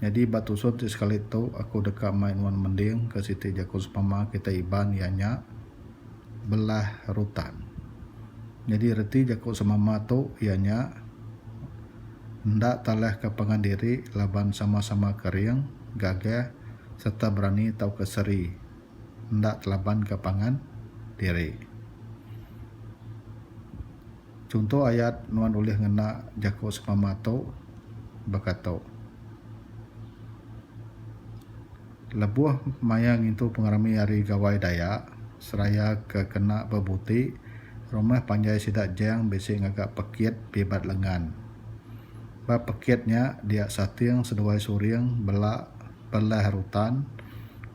Nyadi ba tusur ti sekali tu aku deka mai nuan mending ke siti jaku semama kitai Iban iya nya belah rutan. Nyadi reti jaku semama tu iya nya enda talahka pangan diri laban sama-sama kering, gagah sereta berani tauka seri enda telabanka pangan diri. Chunto ayat nuan ulih ngena jaku semama tu baka tu, Lebuh maya ngintu pengerami ari Gawai Dayak seraya ke kena bebuti, rumah panjai sida Jang bisi ngaga pekit pibat lengan. Ba pekit nya dia sating seduai suring bela pelah rutan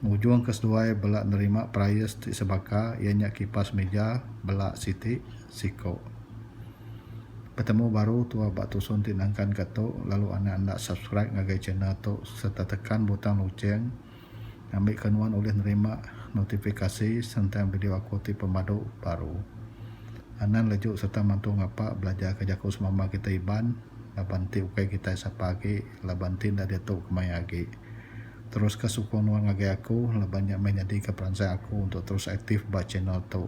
ngujungka seduai bela nerima perais ti sebaka iya nya kipas mija bela siti. Siko. Petemu baru tua ba tusun ti nangkan ka tu lalu anak enda subscribe ngagai channel tu serta tekan butang lucheng ngambi ka nuan ulih nerima notifikasi sentang video aku ti pemadu baru. Anang leju serta mantu ngapa belajar ka jaku semama kita Iban laban ti ukai kitai sapa agi laban ti enda diatu kemaya agi. Terus ka sukung nuan ngagai aku laban nya meh nyadi ka peransai aku untuk terus aktif ba channel tu.